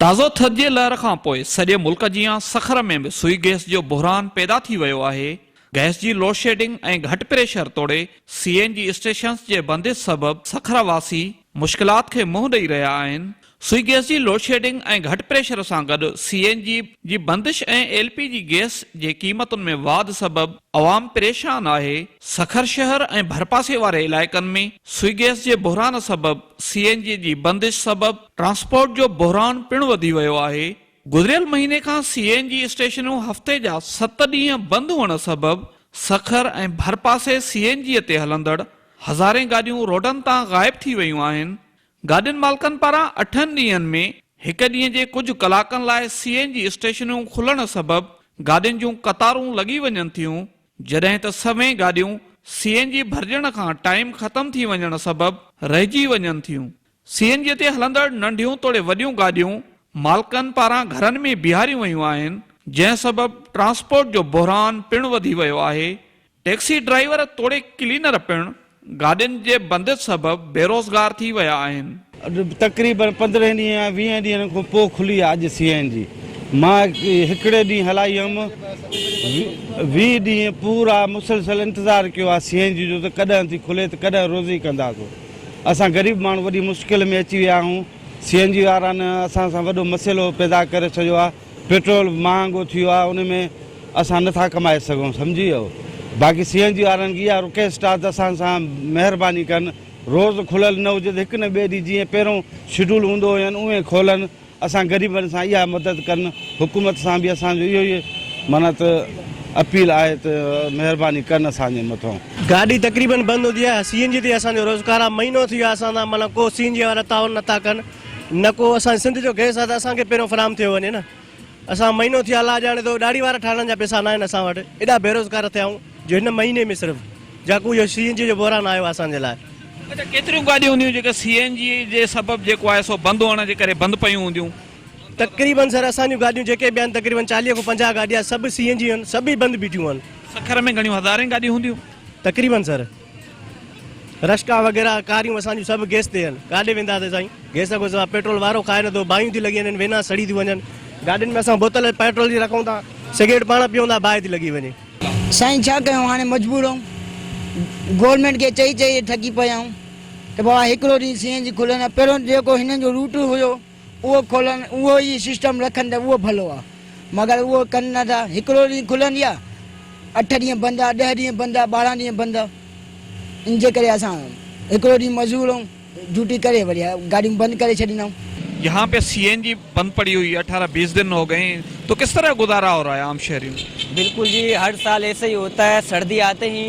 تازو ٿڌ جي لهر کان پوء سڄي ملڪ جيان سکر ۾ به سوئي گئس جو بحران پيدا ٿي ويو آهي، گئس جي لوڊشيڊنگ ۽ گهٽ پريشر توڙي سي اين جي اسٽيشنز جي بندش سبب سکر واسي مشڪلات کي منهن ڏئي رهيا آهن، سوئي گئس جي لوڊشيڊنگ ۽ گهٽ پريشر سان گڏ سي اين جي جي بندش ۽ ايل پي جي گئس جي قيمتن ۾ واڌ سبب عوام پريشان آهي، سکر شهر ۽ ڀرپاسي واري علائقن ۾ سوئي گئس جي بحران سبب سي اين جي جي بندش سبب ٽرانسپورٽ جو بحران پڻ وڌي ويو آهي، گذريل مهيني کان سي اين جي اسٽيشنون هفتي جا ست ڏينهن بند هئڻ سبب سکر ۽ ڀرپاسي سي اين جي تي هلندڙ هزارين گاڏيون روڊن تان غائب ٿي ويون آهن، گاڏين مالڪن پاران اٺن ڏينهن ۾ هڪ ڏينهن جي ڪجهه ڪلاڪن لاء سي اين جي اسٽيشنون کلڻ سبب گاڏين جون قطارون لڳي وڃن ٿيون جڏهن ته سوين گاڏيون سي اين جي ڀرجڻ کان ٽائيم ختم ٿي وڃڻ سبب رهجي وڃن ٿيون سي اين جي تي هلندڙ ننڍيون توڙي وڏيون گاڏيون مالڪن پاران گهرن ۾ بيهاريون ويون آهن جنهن سبب ٽرانسپورٽ جو بحران پڻ وڌي ويو آهي ٽيڪسي ڊرائيور توڙي ڪلينر پڻ گاڏين جي بندش سبب بيروزگار ٿي ويا آهن. اڄ تقريبن پندرهن ڏينهن يا ويهه ڏينهن کان پوء کلي آهي اڄ سي اين جي مان هڪڙي ڏينهن هلائي هيم ويهه ڏينهن پورا مسلسل انتظار ڪيو آهي سي اين جي جو ته ڪڏهن ٿي کلي ته ڪڏهن روزي ڪنداسون اسان غريب ماڻهو وڏي مشڪل ۾ اچي ويا آهيون سي اين جي وارن اسان سان وڏو مسئلو پيدا ڪري ڇڏيو آهي. پيٽرول مهانگو ٿي ويو آهي ان ۾ اسان نه ٿا ڪمائي سگهون سمجهي ويو باقي سي اين جي وارن کي اها رڪويسٽ آهي ته اسان سان مهرباني ڪن روز کليل نه هجي ته هڪ نه ٻئي ڏينهن جيئن پهريون شيڊول هوندو هين اوهين کولن اسان غريبن سان اها مدد ڪن حڪومت سان به اسان جو اهو ئي معنيٰ ته اپيل آهي ته مهرباني ڪن اسان جي مٿان. گاڏي تقريبن بند هوندي آهي سي اين جي تي اسان جو روزگار آهي مهينو ٿي ويو آهي اسان سان معنيٰ ڪو سي اين جي وارا تعاون نه ٿا ڪن. نه ڪو اسان جي سنڌ جو گئس آ ته اسان کي پهريون فراهم ٿيو وڃي نه اسان مهينو ٿي الله ڄاڻي ٿو ڏاڙهي وارا ٺاهڻ جا پيسا ناهن اسان وٽ ايڏا بيروزگار ٿيا آهيون جو هن مهيني ۾ صرف جاکو اهو سي اين جي جو بحران آيو آهي اسان جي لاء. اچا ڪيتريون گاڏيون هونديون جيڪي سي اين جي جي سبب جيڪو آهي سو بند هئڻ جي ڪري بند پيون هونديون؟ تقريبن سر اسان جون گاڏيون جيڪي به آهن تقريبن چاليهه کان پنجاهه گاڏيا سڀ سي اين جي آهن سڀ ئي بند بيٺيون آهن. سکر ۾ گهڻيون هزارين گاڏيون هونديون؟ تقريبن سر. رشڪا وغيره ڪاريون اسان جون سڀ گيس تي هن ڪاڏي ويندا تي سائين گيس کان سواء پيٽرول وارو کائي نه ٿو باهيون ٿي لڳي وڃن وينا سڙي ٿيون وڃن گاڏين ۾ اسان بوتل پيٽرول جي رکون ٿا سگريٽ پاڻ پيون ٿا باهه ٿي لڳي وڃي. سائين ڇا ڪيون هاڻي مجبور آهيون گورنمينٽ کي چئي چئي ٿڪي پيا آهيون ته بابا هڪڙو ڏينهن سي اين جي کلن ها پهريون جيڪو هنن جو روٽ هيو اهو کولن اهو ئي سسٽم رکن ته اهو ڀلو آ مگر اهو ڪن نه ٿا هڪڙو ڏينهن کلندي آ اٺ ڏينهن بند آ ڏهه ڏينهن بند آ ٻارهن ڏينهن بند آ ان جي ڪري اسان هڪڙو ڏينهن مزور آهون ڊيوٽي ڪري وري گاڏيون بند ڪري ڇڏيندا آهون. يهان پي سي اين جي بند پڙي هئي اٺارهن بيس دن هو گئي تو ڪس طرح گذارا هو رها عام شهرين. بلڪل جي هر سال ايسي هي هوتا هي سردي آتي هي.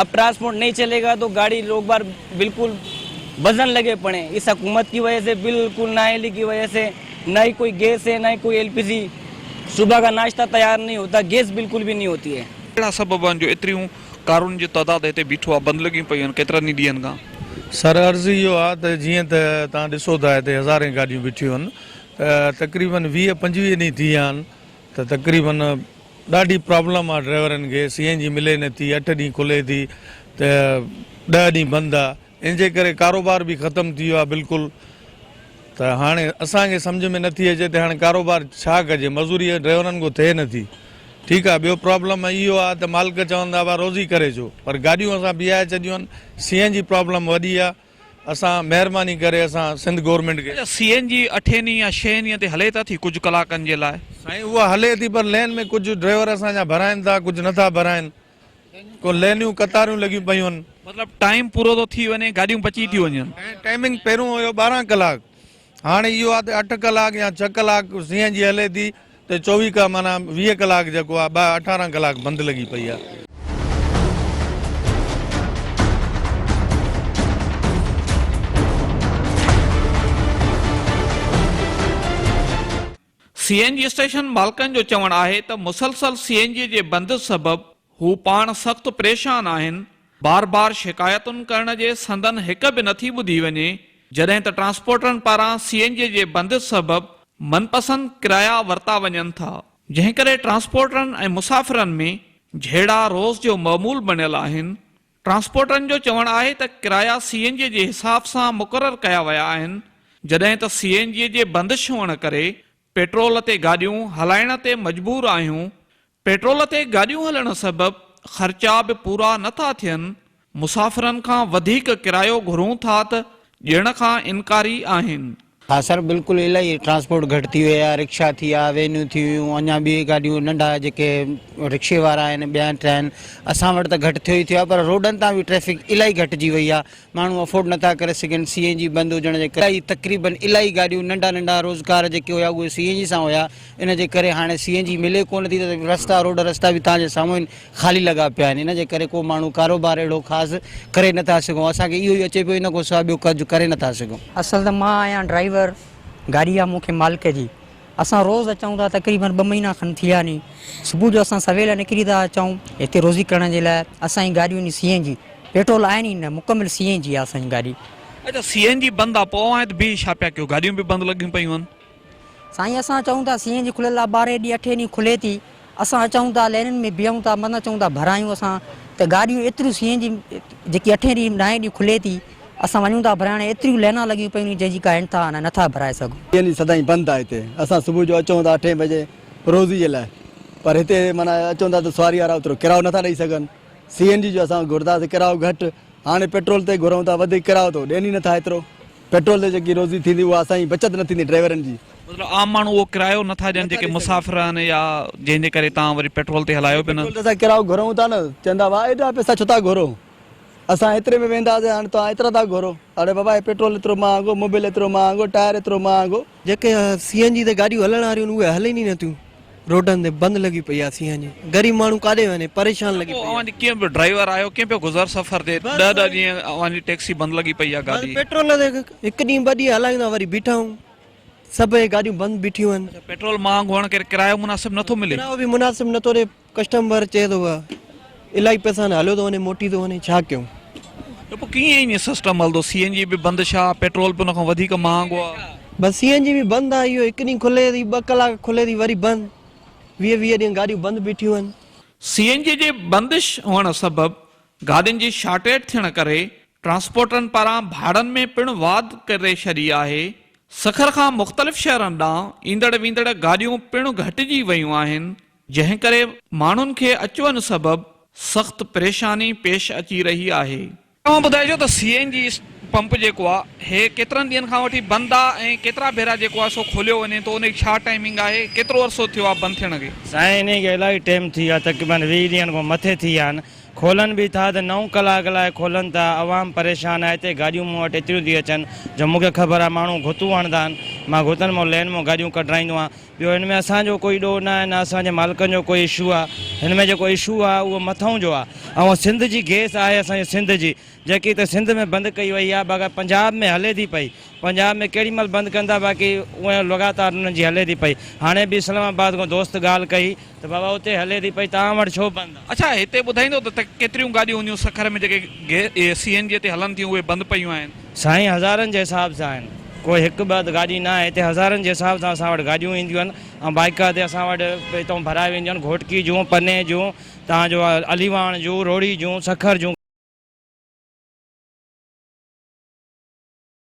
اب ٽرانسپورٽ نهين چلي گا تو گاڙي روڪبار بلڪل وزن لگي پڙي اس حڪومت ڪي وجه سي بلڪل نااهلي ڪي وجه سي نه هي ڪوئي گيس هي نه هي ڪوئي ايل پي زي صبح کا ناشتا تيار نهين هوتا گيس بلڪل به نهين هوتي هي. ڪهڙا سبب آهن جو ايتريون ڪارن جو تعداد هتي بيٺو آهي بند لڳيون پيون آهن ڪيترن ئي ڏينهن کان. سر عرض اهو آهي ته جيئن ته توهان ڏسو ٿا هتي هزارين گاڏيون بيٺيون آهن ته تقريبن ويهه پنجويهه ڏينهن ٿي ويا آهن ته تقريبن ڏاڍي پرابلم آ ڊرائيورن کي سي اين جي ملي نه ٿي اٺ ڏينهن کلي ٿي ته ڏهه ڏينهن بند آ ان جي ڪري ڪاروبار به ختم ٿي ويو آ بلڪل ته هاڻي اسان کي سمجهه ۾ نه ٿي اچي ته هاڻي ڪاروبار ڇا ڪجي مزوري ڊرائيورن کان ٿئي نه ٿي ٺيڪ آ ٻيو پرابلم اهو آ ته مالڪ چون ٿا روزي ڪري اچو پر گاڏيون اسان بيهائي ڇڏيون آهن سي اين جي پرابلم وڏي آ اسان مهرباني ڪري اسان سنڌ گورنمينٽ کي. اچا سي اين جي اٺين ڏينهن يا شين ڏينهن تي هلي ته ٿي ڪجهه ڪلاڪن جي لاء. سائين اها هلي ٿي پر لين ۾ ڪجهه ڊرائيور اسان جا ڀرائين ٿا ڪجهه نٿا ڀرائين ڪو لينيون ڪتاريون لڳيون پيون آهن. مطلب ٽائيم پورو ٿو ٿي وڃي گاڏيون بچي ٿيون وڃن. ٽائيمنگ پهريون هيو ٻارهن ڪلاڪ هاڻي اهو آهي ته اٺ ڪلاڪ يا ڇهه ڪلاڪ سي اين جي هلي ٿي ته چوويهه ڪا معنيٰ ويهه ڪلاڪ جيڪو آهي ٻاهر اٺارهن ڪلاڪ بند لڳي پئي آهي. سي اين جي اسٽيشن مالڪن جو چوڻ آهي ته مسلسل سي اين جي جي بند سبب هو پاڻ سخت پريشان آهن، بار بار شڪايتن ڪرڻ جي سندن هڪ به نٿي ٻڌي وڃي، جڏهن ته ٽرانسپورٽرن پاران سي اين جي جي بند سبب من پسند ڪرايا ورتا وڃن ٿا، جنهن ڪري ٽرانسپورٽرن ۽ مسافرن ۾ جهيڙا روز جو معمول بڻيل آهن، ٽرانسپورٽرن جو چوڻ آهي ته ڪرايا سي اين جي جي حساب سان مقرر ڪيا ويا آهن جڏهن ته سي اين جي جي بندش هئڻ ڪري پيٽرول تي گاڏيون هلائڻ تي مجبور آهيون پيٽرول تي گاڏيون هلڻ سبب خرچا به پورا نه ٿا ٿين مسافرن کان وڌيڪ ڪرايو گهرون ٿا ته ڏيڻ کان انڪاري آهن. ها سر بلڪل الائي ٽرانسپورٽ گهٽ ٿي وئي آهي رڪشا ٿي ويا وينون ٿي ويون اڃا ٻي گاڏيون ننڍا جيڪي رڪشي وارا آهن ٻيا ٽيا آهن اسان وٽ ته گهٽ ٿيو ئي ٿيو آهي پر روڊن تان به ٽريفڪ الائي گهٽجي وئي آهي ماڻهو افورڊ نٿا ڪري سگهن سي اين جي بند هجڻ جي ڪري تقريبن الائي گاڏيون ننڍا ننڍا روزگار جيڪي هيا اهي سي اين جي سان هيا ان جي ڪري هاڻي سي اين جي ملي ڪونه ٿي ته رستا روڊ رستا به تان جي سامهون آهن خالي لڳا پيا آهن ان جي ڪري ڪو ماڻهو ڪاروبار اهڙو خاص ڪري نه ٿا سگهون اسان کي اهو ئي اچي پيو ان کان سواء ٻيو ڪجهه ڪري نه ٿا سگهون. اصل ته مان آهيان ڊرائيور گاڏي آ مون کي مالڪ جي اسان روز اچون ٿا تقريبن ٻه مهينا کن ٿي ويا ني صبح جو اسان سويل نڪري ٿا اچون هتي روزي ڪرڻ جي لاء اسان جي گاڏيون ني سي اين جي پيٽرول آهن ئي نه مڪمل سي اين جي آ اسان جي گاڏي. اچا سي اين جي بند آ پوء اوهان هت بيهي ڇا پيا ڪيو گاڏيون به بند لڳيون پيون آهن. سائين اسان چئون ٿا سينهن جي کليل آ ٻارهين ڏينهن اٺين ڏينهن کلي ٿي اسان اچئون ٿا لينن ۾ بيهون ٿا مٿان چئون ٿا ڀرايون اسان ته گاڏيون ايتريون سينهن جي جيڪي اٺين ڏينهن نائين ڏينهن کلي ٿي اسان وڃون ٿا ڀرائڻ ايتريون لينا لڳيون پيون ني جنهن جي ڪا انتها نه نٿا ڀرائي سگهون. ٽين ڏينهن سدائين بند آ هتي اسان صبح جو اچئون ٿا اٺين بجي روزي جي لاء پر هتي معنيٰ اچئون ٿا ته سواري وارا اوترو ڪرايو نٿا ڏئي سگهن سي اين جي جو اسان گهردا سي ڪرايو گهٽ هاڻي پيٽرول تي گهرئون ٿا وڌيڪ ڪرايو ته هو ڏين ئي نٿا ايترو پيٽرول تي جيڪي روزي ٿيندي اها اسان جي بچت نه ٿيندي ڊرائيورن جي. مطلب عام ماڻهو اهو ڪرايو نه ٿا ڏين جيڪي مسافر آهن يا جنهن جي ڪري تان وري پيٽرول تي هلايو پيو نه. پيٽرول تي اسان ڪرايو گهرون ٿا نه چوندا واهه ايڏا پيسا ڇو ٿا گهرو اسان ايتري ۾ وينداسين هاڻي توهان ايترا ٿا گهرو اڙي بابا هي پيٽرول ايترو مهانگو موبل ايترو مهانگو ٽائر ايترو مهانگو. جيڪي سي اين جي تي گاڏيون هلڻ واريون اهي هلين ئي نٿيون روڊن تي بند لڳي پئي آهي سي اين جي غريب ماڻهو ڪاڏي وڃي پريشان لڳي پئي آهي. ڪنهن به ڊرائيور آهيو ڪنهن به گذر سفر تي ڏهه ڏهه ڏينهن اوهان جي ٽيڪسي بند لڳي پئي آهي گاڏي. پيٽرول تي هڪ ڏينهن ٻه ڏينهن هلايون ٿا وري بيٺا آهيون سڀ اهي گاڏيون بند بيٺيون آهن. پيٽرول مهانگو هئڻ ڪري ڪرايو مناسب نٿو ملي. ڪرايو به مناسب نٿو ڏي. ڪسٽم وارو چئي ٿو ها الائي پئسا نه هليو ٿو وڃي موٽي ٿو وڃي ڇا ڪيون. ته پوء ڪيئن ائين سسٽم هلندو سي اين جي به بند ڇا پيٽرول به ان کان وڌيڪ مهانگو آهي. بس سي اين جي به بند آهي اهو هڪ ڏينهن کلي ٿي ٻه ڪلاڪ کلي ٿي وري بند ويهه ويهه ڏينهن گاڏيون بند بيٺيون آهن. سي اين جي جي بندش هئڻ سبب گاڏين جي شارٽيٽ ٿيڻ ڪري ٽرانسپورٽرن پاران ڀاڙن ۾ پڻ واڌ ڪري ڇڏي آهي سکر کان مختلف شهرن ڏانهن ايندڙ ويندڙ گاڏيون پڻ گهٽجي ويون آهن جنهن ڪري ماڻهن کي اچ وڃ سبب سخت پريشاني پيش اچي رهي آهي. اوهان ٻڌائجو ته سي اين جي پمپ جيڪو آ هي ڪيترن ڏينهن کان وٺي بند آ ۽ ڪيترا ڀيرا جيڪو آ سو کوليو وڃي ٿو انهي جي ڇا ٽائمنگ آهي ڪيترو عرصو ٿيو آ بند ٿيڻ کي. سائين انهي کي الاهي ٽيم ٿي ويو آ تقريبن ويهه ڏينهن کان مٿي ٿي ويا آهن کولن به ٿا ته نو ڪلاڪ لاء کولن ٿا عوام پريشان آهي هتي گاڏيون مون وٽ ايتريون ٿي اچن جو مون کي خبر آ ماڻهو گهتون هڻندا آهن مان گهتن مان لين مان گاڏيون ڪڍرائيندو آهيان ٻيو هن ۾ اسان جو ڪوئي ڏوهه نه آهي نه اسان جي مالڪن جو ڪوئي اشو آهي هن ۾ جيڪو اشو آهي اهو مٿئون جو آهي ۽ سنڌ جي گيس آهي اسان جي سنڌ جي جيڪي هتي سنڌ ۾ بند ڪئي وئي آهي باقي پنجاب ۾ هلي ٿي پئي پنجاب ۾ ڪهڙي مهل بند ڪندا باقي اهي لڳاتار انهن جي هلي ٿي پئي هاڻي به اسلام آباد کان دوست ڳالهه ڪئي ته بابا اتي هلي ٿي پئي توهان وٽ ڇو بند آ؟ اڇا هتي ٻڌائيندو ته ڪيتريون گاڏيون هونديون سکر ۾ جيڪي سي اين جي تي هلن ٿيون اهي بند پيون آهن. سائين هزارن جي حساب سان آهن ڪو هڪ ٻه گاڏي نه آهي هتي هزارن جي حساب سان اسان وٽ گاڏيون اينديون آهن ۽ بائيڪ تي اسان وٽ هتو ڀرائي وينديون آهن گهوٽڪي جون پني جون توهان جو علي واڻ جون روهڙي جون سکر جون